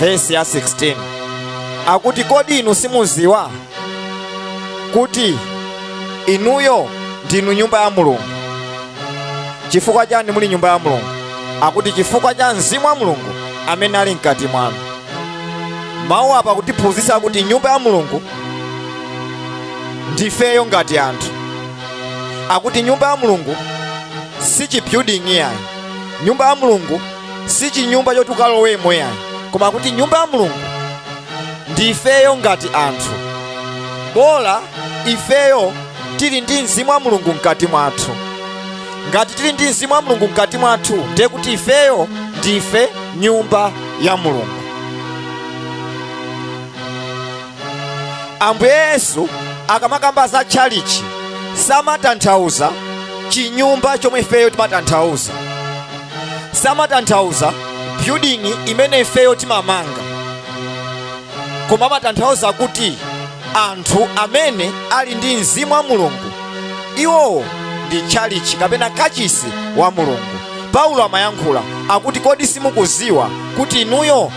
vesi ya 16 akuti kodi inu simuziwa kuti inuyo ndinu nyumba ya mulungu chifukwa chani muli nyumba ya mulungu akuti chifukwa cha mzimu wa mulungu amene ali mkati mwanu mawu apa akutiphunzitsa kuti nyumba ya mulungu ndifeyo ngati anthu akuti nyumba ya mulungu si chibuilding iyayi nyumba ya mulungu si chinyumba choti ukalowemo yayi koma kuti nyumba ya mulungu ndi ifeyo ngati anthu bola ifeyo tili ndi mzimu wa mulungu mkati mwathu ngati tili ndi mzimu wa mulungu mkati mwathu ndiye kuti ifeyo ndife nyumba ya mulungu ambuye yesu akamakamba za tchalichi samatanthauza chinyumba chomwe ifeyo timatanthauza samatanthauza building imene ifeyo timamanga koma amatanthauza kuti anthu amene ali ndi mzimu wa mulungu iwowo ndi tchalichi kapena kachisi wa mulungu paulo amayankhula akuti kodi simukuziwa kuti inuyo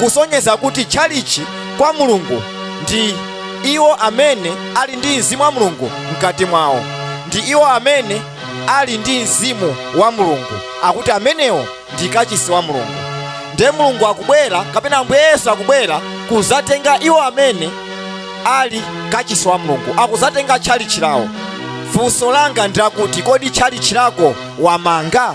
kusonyeza kuti tchalitchi kwa Mulungu ndi iwo amene ali ndi mzimu wa Mulungu mkati mwawo, ndi iwo amene ali ndi mzimu wa Mulungu, akuti amenewo ndi kachisi wa Mulungu. Ndiye Mulungu akubwera, kapena Ambuye Yesu akubwera kuzatenga iwo amene ali kachisi wa Mulungu, akuzatenga tchalitchi lawo. Funso langa ndi lakuti, kodi tchalitchi lako wamanga?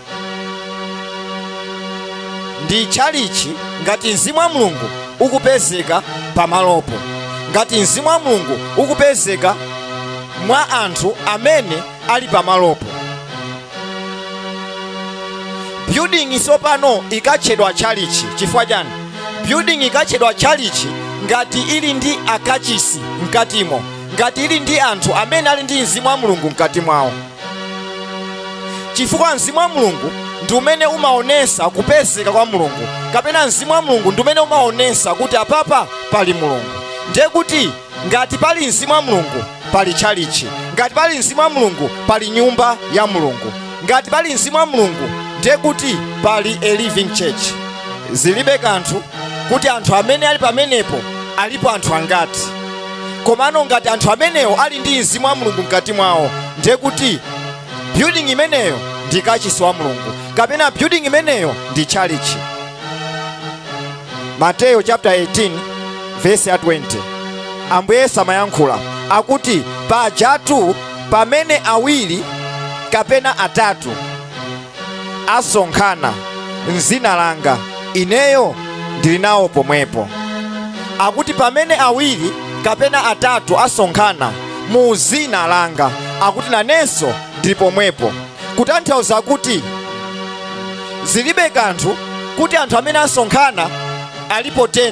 ndi tchalitchi ngati mzimu wa mulungu ukupezeka pamalopo ngati mzimu wa mulungu ukupezeka mwa anthu amene ali pamalopo building tsopano ikatchedwa tchalitchi chifukwa chani building ikatchedwa tchalitchi ngati ili ndi akachisi mkatimo ngati ili ndi anthu amene ali ndi mzimu wa mulungu mkati mwawo chifukwa mzimu wa mulungu ndi umene umaonesa kupezeka kwa mulungu kapena mzimu wa mulungu ndi umene umaonesa kuti apapa pali mulungu ndiye kuti ngati pali mzimu wa mulungu pali tchalichi ngati pali mzimu wa mulungu pali nyumba ya mulungu ngati pali mzimu wa mulungu ndiye kuti pali a living church zilibe kanthu kuti anthu amene ali pamenepo alipo anthu angati komano ngati anthu amenewo ali ndi mzimu wa mulungu mkati mwawo ndiye kuti building imeneyo ndi kachisi wa mulungu kapena building imeneyo ndi chalichi mateyo chapter 18 vesi ya 20 ambuye yesu amayankhula akuti pajatu pamene awiri kapena atatu asonkhana m'dzina langa, ineyo ndili nawo pomwepo. Akuti pamene awiri kapena atatu asonkhana mu dzina langa, akuti nanenso ndili pomwepo, kutanthauza kuti zilibe kanthu kuti anthu amene asonkhana alipo 10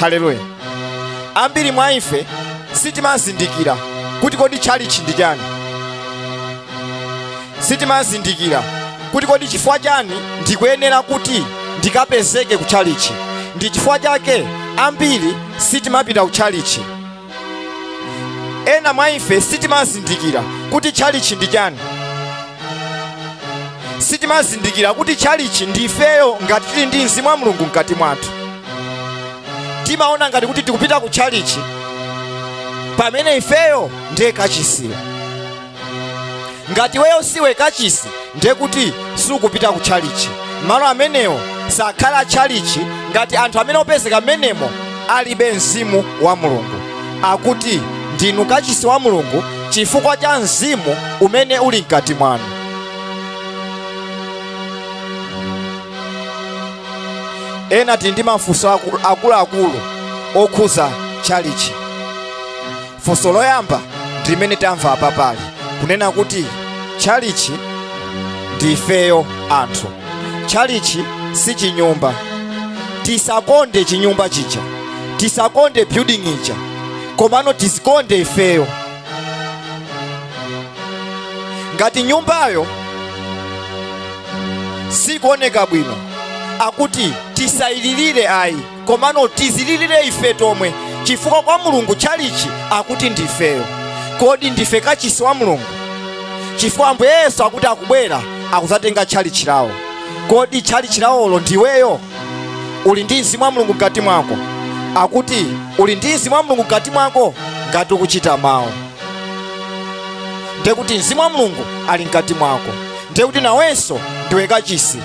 haleluya ambiri mwa ife sitimazindikira kuti kodi tchalitchi ndi chani sitimazindikira kuti kodi chifukwa chani ndikuyenera kuti ndikapezeke ku tchalitchi ndi chifukwa chake ambiri sitimapita ku tchalitchi ena mwa ife sitimazindikira kuti tchalichi ndi chani sitimazindikira kuti tchalichi ndi ifeyo ngati tili ndi mzimu wa mulungu mkati mwathu timaona ngati kuti tikupita ku tchalichi pamene ifeyo ndiye kachisiyo ngati iweyo siwe kachisi ndiye kuti sukupita ku tchalichi malo amenewo sakhala tchalichi ngati anthu amene opezeka mmenemo alibe mzimu wa mulungu akuti ndinu kachisi wa mulungu chifukwa cha mzimu umene uli mkati mwanu ena tili ndi mafunso akuluakulu okhuza tchalichi funso loyamba ndi limene tamva apa pale kunena kuti tchalichi ndi ifeyo anthu tchalichi si chinyumba tisakonde chinyumba chija tisakonde building ija komano tizikonde ifeyo ngati nyumbayo sikuoneka bwino akuti tisayililire ayi komano tizililire ife tomwe chifukwa kwa mulungu tchalichi akuti ndifeyo kodi ndife kachisi wa mulungu chifukwa ambuye yesu akuti akubwera akuzatenga tchalichi lawo kodi tchalichi lawolo ndiweyo uli ndi mzimu wa mulungu mkati mwako akuti uli ndi mzimu wa mulungu mkati mwako ngati ukuchita mawu ndekuti mzimu wa mulungu ali mkati mwako ndekuti nawenso ndiwe kachisi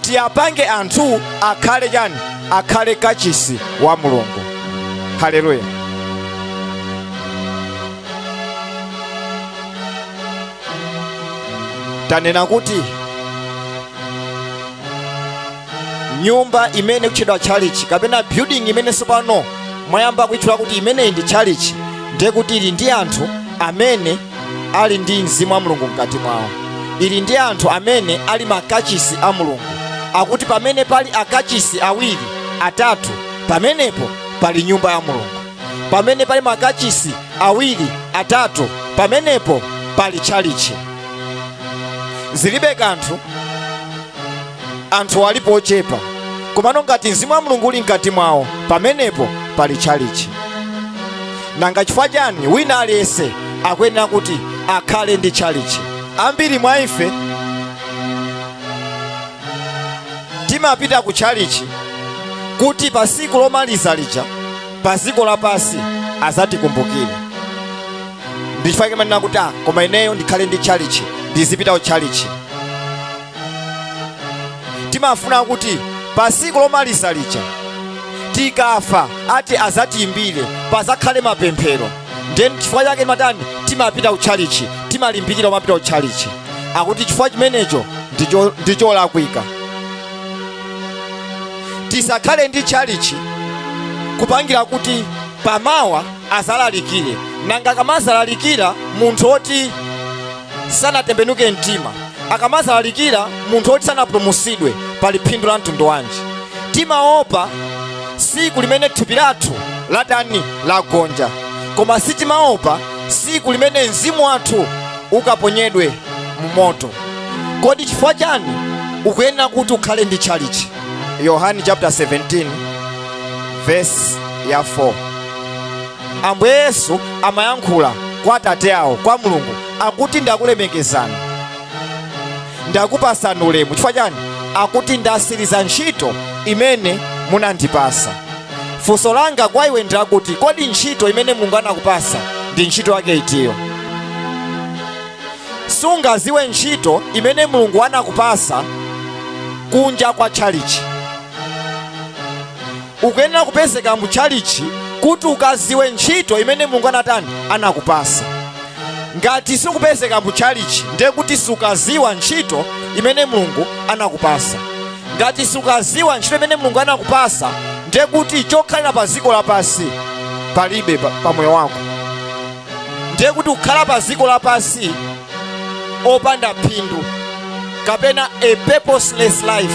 tiyapange anthu akhale chani akhale kachisi wa mulungu haleluya tanena kuti nyumba imene ikutchedwa tchalichi kapena building imene tsopano mwayamba kuitchula kuti imeneyi ndi tchalichi ndiye kuti ili ndi anthu amene ali ndi mzimu wa mulungu mkati mwawo iri ndi anthu amene ali makachisi a mulungu akuti pamene pali akachisi awiri atatu pamenepo pali nyumba ya mulungu pamene pali makachisi awiri atatu pamenepo pali tchalichi zilibe kanthu anthu alipo ochepa komano ngati mzimu wa mulungu uli mkati mwawo pamenepo pali tchalichi nanga chifukwa chani wina aliyense akuyenera kuti akhale ndi tchalichi ambiri mwa ife timapita ku tchalichi kuti pa tsiku lomaliza lija pa dziko lapansi azatikumbukire ndichifukwa chake umanena kuti ah, koma ineyo ndikhale ndi tchalichi ndizipita ku tchalichi timafuna kuti pa tsiku lomaliza lija tikafa ati azatiimbire pazakhale mapemphero ndiye nchifukwa chake umatani timapita kutchalichi timalimbikira kumapita kutchalichi akuti chifukwa chimenecho ndicho- ndicholakwika tisakhale ndi tchalichi kupangira kuti pamawa azalalikire nanga akamazalalikira munthu oti sanatembenuke mtima akamazalalikira munthu woti sanapulumutsidwe pali phindu la mtundu wanji timaopa siku limene thupi lathu latani lagonja koma sitimaopa siku limene mzimu wathu ukaponyedwe mu moto kodi chifukwa chani ukuyenera kuti ukhale ndi tchalichi yohani chapter 17 verse ya 4 ambuye yesu amayankhula kwa atate awo kwa mulungu akuti ndakulemekezani ndakupasani ulemu chifukwa chani akuti ndasiriza ntchito imene munandipasa funso langa kwa iwe ndilakuti kodi ntchito imene mulungu anakupasa ndi ntchito yake itiyo sungaziwe ntchito imene mulungu anakupasa kunja kwa tchalichi ukuyenera kupezeka mu tchalitchi kuti ukaziwe ntchito imene mulungu anatani anakupasa ngati sukupezeka mu tchalitchi ndiye kuti sukaziwa ntchito imene mulungu anakupasa ngati sukaziwa ntchito imene mulungu anakupasa ndiye kuti chokhalira pa dziko lapansi palibe pa moyo wako ndiye kuti ukhala pa dziko lapansi opanda phindu kapena a purposeless life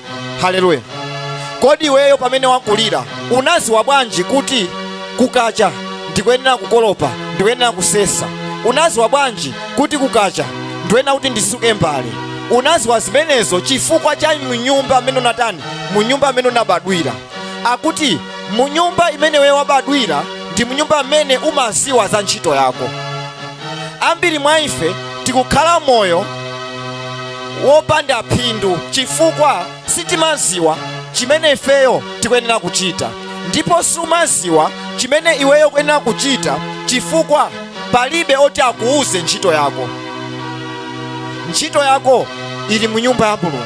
haleluya kodi iweyo pamene unkakulira unaziwa bwanji kuti kukacha ndikuyenera kukolopa ndikuyenera kusesa unaziwa bwanji kuti kukacha ndikuyenera kuti ndisuke mbale unaziwa zimenezo chifukwa cha munyumba mmene unatani munyumba mmene unabadwira akuti mu nyumba imene iweyo wabadwira ndi mu nyumba imene umaziwa za ntchito yako ambiri mwa ife tikukhala moyo wopanda phindu chifukwa sitimaziwa chimene ifeyo tikuyenera kuchita ndipo sumaziwa chimene iweyo ukuyenera kuchita chifukwa palibe oti akuuze ntchito yako ntchito yako ili mu nyumba ya mulungu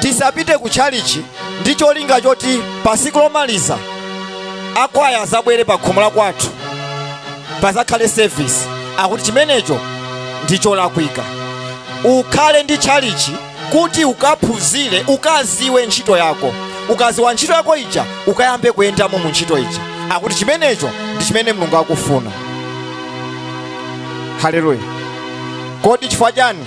tisapite ku tchalichi ndi cholinga choti pa siku lomaliza akwaya azabwere pa khomo la kwathu pazakhale service akuti chimenecho ndi cholakwika ukhale ndi tchalichi kuti ukaphunzire ukaziwe ntchito yako ukaziwa ntchito yako ija ukayambe kuyendamo mu ntchito ija akuti chimenecho ndi chimene mulungu akufuna haleluya kodi chifukwa chani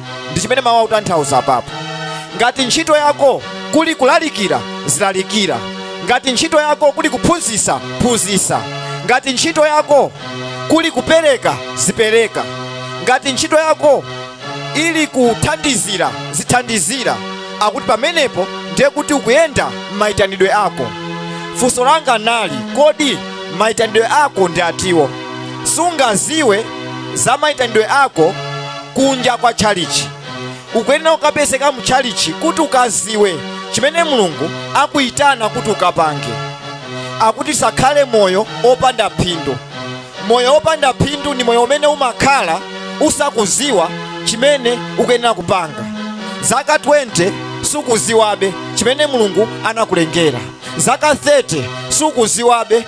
ndi chimene mawu akutanthauza apapo ngati ntchito yako kuli kulalikira zilalikira ngati ntchito yako kuli kuphunzitsa phunzitsa ngati ntchito yako kuli kupereka zipereka ngati ntchito yako ili kuthandizira zithandizira akuti pamenepo ndiye kuti ukuyenda m'mayitanidwe ako funso langa nali kodi mayitanidwe ako ndi atiwo sungaziwe za mayitanidwe ako kunja kwa tchalitchi ukuyenera kukapezeka mu tchalitchi kuti ukaziwe chimene mulungu akukuyitana kuti ukapange akuti usakhale moyo opanda phindu moyo opanda phindu ndi moyo umene umakhala usakuziwa chimene ukuyenera kupanga zaka 20 sukuziwabe chimene mulungu anakulengera zaka 30 sukuziwabe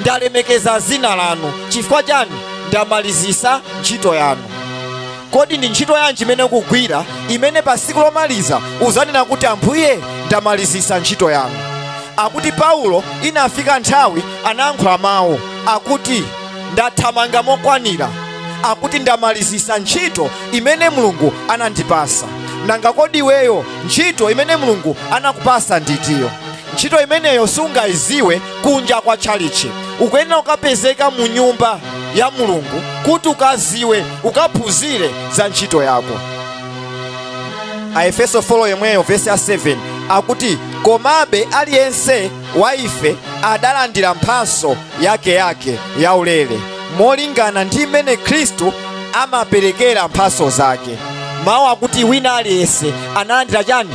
ndalemekeza zina lanu chifukwa chani ndamalizisa ntchito yanu kodi ndi ntchito yanji imene ukugwira imene pa siku lomaliza uzanena kuti ambuye ndamalizisa ntchito yanu akuti paulo inafika nthawi anayankhula mawu akuti ndathamanga mokwanira akuti ndamalizisa ntchito imene mulungu anandipasa nanga kodi iweyo ntchito imene mulungu anakupasa ndi itiyo Ntchito imeneyo sungaiziwe kunja kwa tchalitchi. Ukuyenera kukapezeka mu nyumba ya Mulungu kuti ukaziwe, ukaphunzire za ntchito yako. Aefeso 4 yemweyo vesi ya 7 akuti, komabe aliyense wa ife adalandira mphaso yake yake yaulere molingana ndi mmene Khristu amaperekera mphaso zake. Mawu akuti wina aliyense analandira chani?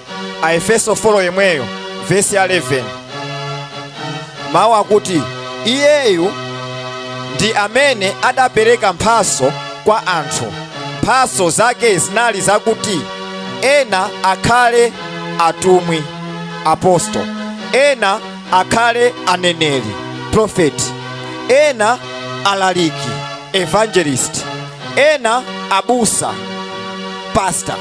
Aefeso 4 yemweyo vesi ya 11 mawu akuti iyeyu ndi amene adapereka mphaso kwa anthu mphaso zake zinali zakuti ena akhale atumwi apostol ena akhale aneneri profeti ena alaliki evangelist ena abusa pastor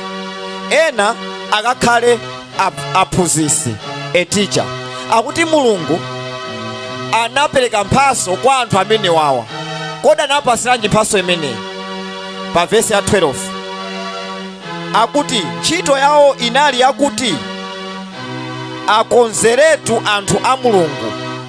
ena akakhale ap- aphunzitsi a teacher akuti mulungu anapereka mphaso kwa anthu amene wawa kodi anapasiranji mphaso imeneyi pa vesi ya 12 akuti ntchito yawo inali yakuti akonzeretu anthu a mulungu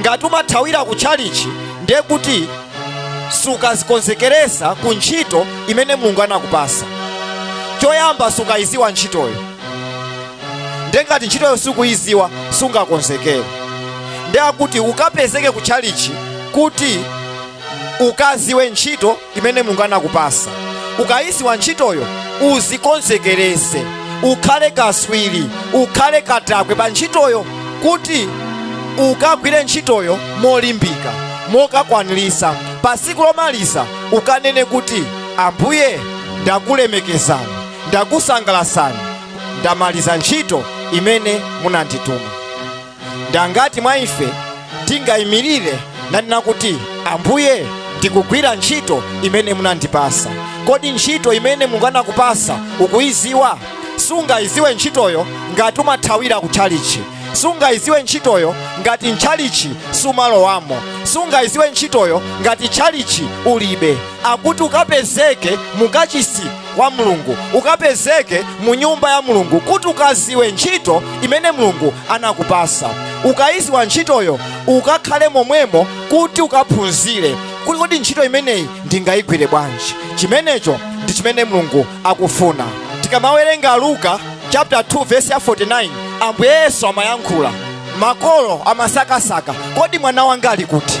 ngati umathawira ku tchalichi ndiye kuti sukazikonzekeresa ku ntchito imene mulungu anakupasa choyamba sukayiziwa ntchitoyo ndiye ngati ntchitoyo sukuyiziwa sungakonzekere ndiye akuti ukapezeke ku tchalichi kuti ukaziwe ntchito imene mulungu anakupasa ukayiziwa ntchitoyo uzikonzekerese ukhale kaswiri ukhale katakwe pa ntchitoyo kuti ukagwire ntchitoyo molimbika mokakwanirisa pa siku lomaliza ukanene kuti ambuye ndakulemekezani ndakusangalasani ndamaliza ntchito imene munandituma Ndi angati mwa ife tingaimirire nanena kuti, Ambuye, ndikugwira ntchito imene munandipasa? Kodi ntchito imene Mulungu anakupasa ukuiziwa? Sungaiziwe ntchitoyo ngati umathawira ku tchalichi. Sungaiziwe ntchitoyo ngati mtchalichi sumalowamo. Sungaiziwe ntchitoyo ngati tchalichi ulibe. Akuti ukapezeke mu kachisi wa mulungu ukapezeke mu nyumba ya mulungu kuti ukaziwe ntchito imene mulungu anakupasa ukayiziwa ntchitoyo ukakhale momwemo kuti ukaphunzire kuti kodi ntchito imeneyi ndingayigwire bwanji chimenecho ndi chimene mulungu akufuna tikamawerenga luka chapter 2 verse ya 49 ambuye yesu amayankhula makolo amasakasaka kodi mwana wanga ali kuti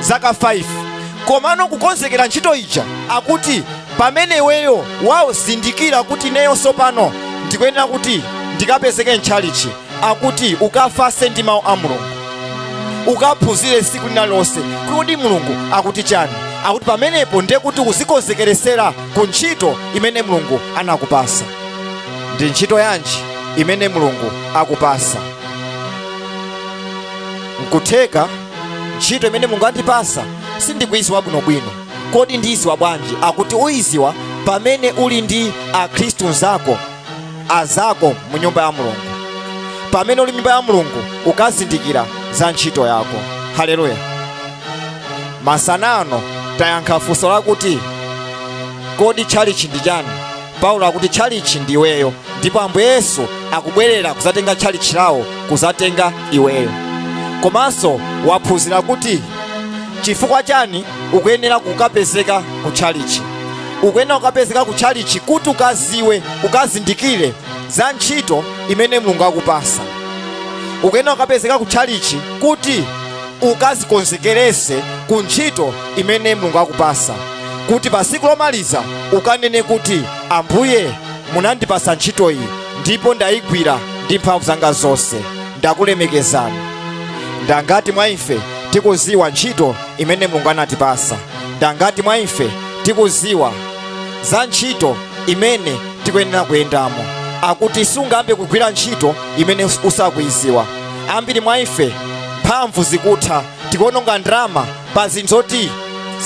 zaka 5 komano kukonzekera ntchito ija akuti pamene iweyo wazindikira kuti ineyo sopano ndikuyenera kuti ndikapezeke mtchalichi akuti ukafase ndi mawu a mulungu ukaphunzire tsiku lina lonse kuti kodi mulungu akuti chani akuti pamenepo ndiye kuti ukuzikonzekeresera ku ntchito imene mulungu anakupasa ndi ntchito yanji imene mulungu akupasa nkutheka ntchito imene mulungu andipasa sindikuiziwa bwinobwino kodi ndiiziwa bwanji akuti uiziwa pamene uli ndi akhristu nzako azako mu nyumba ya mulungu pamene uli m'nyumba ya mulungu ukazindikira za ntchito yako haleluya masana ano tayankha funso lakuti kodi tchalichi ndi chani paulo akuti tchalitchi ndi iweyo ndipo ambuye yesu akubwerera kuzatenga tchalitchi lawo kuzatenga iweyo komanso waphunzira kuti chifukwa chani ukuyenera kukapezeka ku tchalitchi ukuyenera kukapezeka ku tchalitchi kuti ukaziwe ukazindikire za ntchito imene mulungu akupasa ukuyenera kukapezeka ku tchalitchi kuti ukazikonzekerese ku ntchito imene mulungu akupasa kuti pa tsiku lomaliza ukanene kuti, Ambuye, munandipasa ntchito iyi ndipo ndaigwira ndi mphamvu zanga zonse. Ndakulemekezani. Ndangati mwa ife tikuziwa ntchito imene Mulungu anatipasa? Ndangati mwa ife tikuziwa za ntchito imene tikuyenera kuyendamo? Akuti sungambe kugwira ntchito imene usakuiziwa. Ambiri mwa ife mphamvu zikutha tikuononga ndalama pa zinthu zoti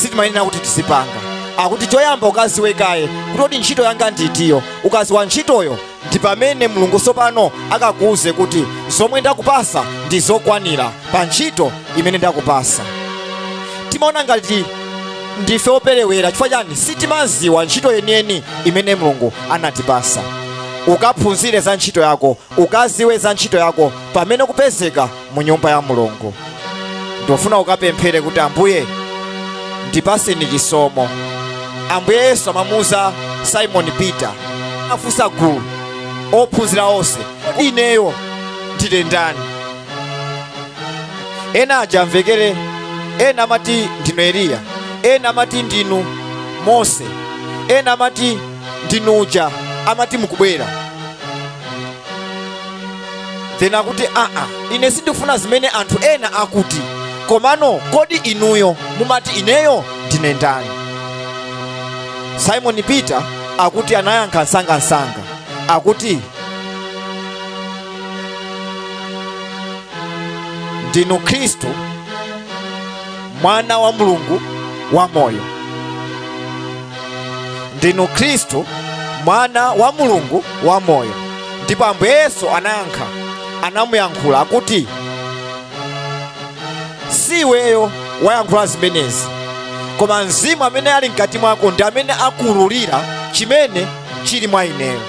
sitimayenera kuti tizipanga akuti choyamba ukaziwe kaye kuti kodi ntchito yanga nditiyo ukaziwa ntchitoyo ndi pamene mulungu sopano akakuuze kuti zomwe ndakupasa ndi zokwanira pa ntchito imene ndakupasa timaona ngati ndife operewera chifukwa chani sitimaziwa ntchito yeniyeni imene mulungu anatipasa ukaphunzire za ntchito yako ukaziwe za ntchito yako pamene kupezeka mu nyumba ya mulungu ndofuna ukapemphere kuti ambuye ndipaseni chisomo ambuye yesu amamuuza simoni peter afunsa gulu ophunzira onse ineyo ndine ndani ena aja amvekere ena amati ndinu eliya ena amati ndinu mose ena amati ndinu uja amati mukubwera then akuti aa ine sindikufuna zimene anthu ena akuti komano kodi inuyo mumati ineyo ndine ndani simon peter akuti anayankha nsangansanga akuti ndinu khristu mwana wa mulungu wamoyo ndinu khristu mwana wa mulungu wamoyo ndipo ambuye yesu anayankha anamuyankhula akuti si iweyo wayankhula zimenezi koma mzimu amene ali mkati mwako ndi amene wakuululira chimene chili mwa ineyo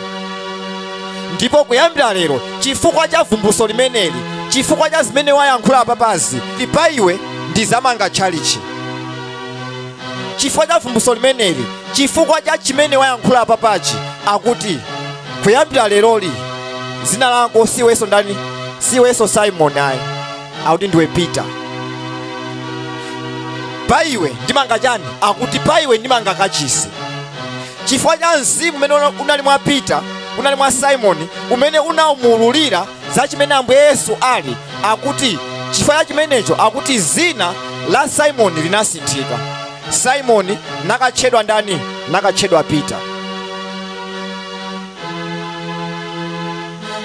ndipo kuyambira lero chifukwa cha vumbulutso limeneli chifukwa cha zimene wayankhula apapazi pa iwe ndizamanga tchalichi chifukwa cha vumbulutso limeneli chifukwa cha chimene wayankhula apapachi akuti kuyambira leroli zina lako siweso ndani siweso simon ayi akuti ndiwe peter pa iwe ndimanga chani akuti pa iwe ndimanga kachisi chifukwa cha mzimu umene una- unali mwa peter unali mwa simoni umene unawumululira za chimene Ambuye Yesu ali, akuti chifukwa cha chimenecho akuti zina la Simoni linasinthika. Simoni nakatchedwa ndani? Nakatchedwa Peter.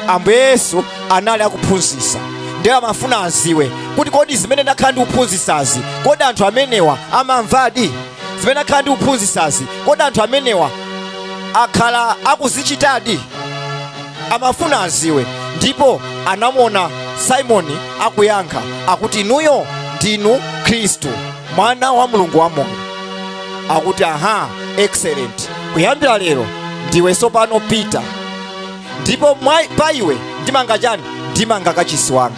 Ambuye Yesu anali akuphunzitsa ndiye amafuna aziwe kuti kodi zimene ndakhala ndikuphunzitsazi kodi anthu amenewa amamvadi? zimene ndakhala ndikuphunzitsazi kodi anthu amenewa akhala akuzichitadi amafuna aziwe ndipo anamuona simoni akuyankha akuti inuyo ndinu khristu mwana wa mulungu wamoyo akuti aha excellent kuyambira lero ndiwe tsopano pita ndipo pa iwe ndimanga chani ndimanga kachisi wanga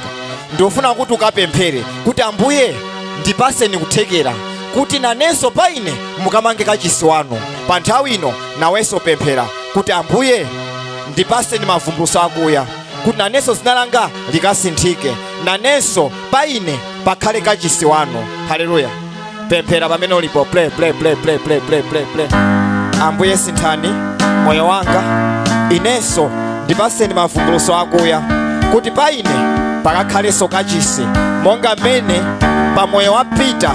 ndofuna kuti ukapemphere kuti ambuye ndipaseni kuthekera kuti nanenso pa ine mukamange kachisi wanu pa nthawi ino nawenso pemphera kuti ambuye ndipaseni mavumbuluso akuya kuti nanenso zina langa likasinthike nanenso pa ine pakhale kachisi wanu haleluya pemphera pamene ulipo pray pray pray pray pray pray pray pray ambuye sinthani moyo wanga inenso ndipaseni mavumbuluso akuya kuti pa ine pakakhalenso kachisi monga mmene pa moyo wa pita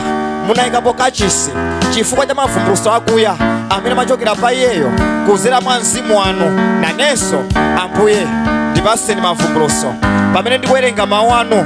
munayikapo kachisi chifukwa cha mavumbuluso akuya amene amachokera pa iyeyo kuzera mwa mzimu wanu nanenso ambuye ndipaseni mavumbuluso pamene ndikuwerenga mawu anu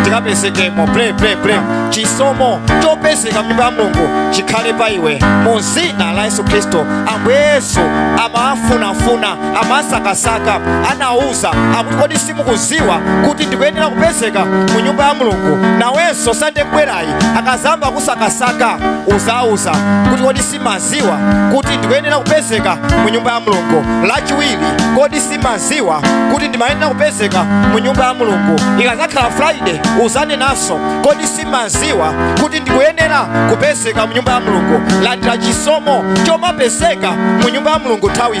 ndikapezekemo pray pray pray chisomo chopezeka mnyumba ya mulungu chikhale pa iwe mu zina la yesu khristu ambuye yesu amawafunafuna amawasakasaka anawauza akuti kodi simukuziwa kuti ndikuyenera kupezeka mu nyumba ya mulungu nawenso sande ikubwerayi akazayamba kukusakasaka uzawauza kuti kodi si- simaziwa kuti ndikuyenera kupezeka mu nyumba ya mulungu lachiwiri kodi simaziwa kuti ndimayenera kupezeka mu nyumba ya mulungu ikazakhala friday uzanenanso kodi simaziwa kuti ndikuyenera kupezeka mu nyumba ya mulungu landira chisomo chomapezeka mu nyumba ya mulungu nthawi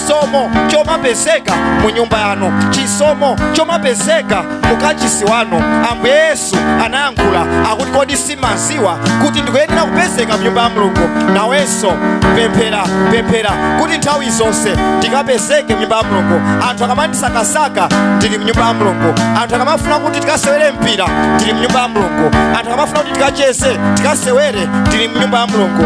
chisomo chomapezeka mu nyumba yanu chisomo chomapezeka mu kachisi wanu ambuye yesu anayankhula akuti kodi simaziwa kuti ndikuyenera kupezeka mu nyumba ya mulungu nawenso pemphera pemphera kuti nthawi zonse ndikapezeke mu nyumba ya mulungu anthu akamandisakasaka ndili mu nyumba ya mulungu anthu akamafuna kuti tikasewere mpira ndili mu nyumba ya mulungu anthu akamafuna kuti tikacheze tikasewere ndili mu nyumba ya mulungu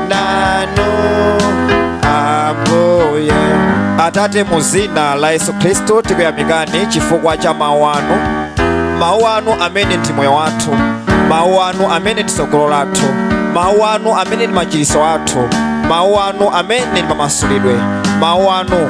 nanu ambuye atate mu dzina la yesu khristu tikuyamikani chifukwa cha mawu anu mawu anu amene ndi moyo wathu mawu anu amene ndi tsogolo lathu mawu anu amene ndi machiritso athu mawu anu amene ndi mamasulidwe mawu anu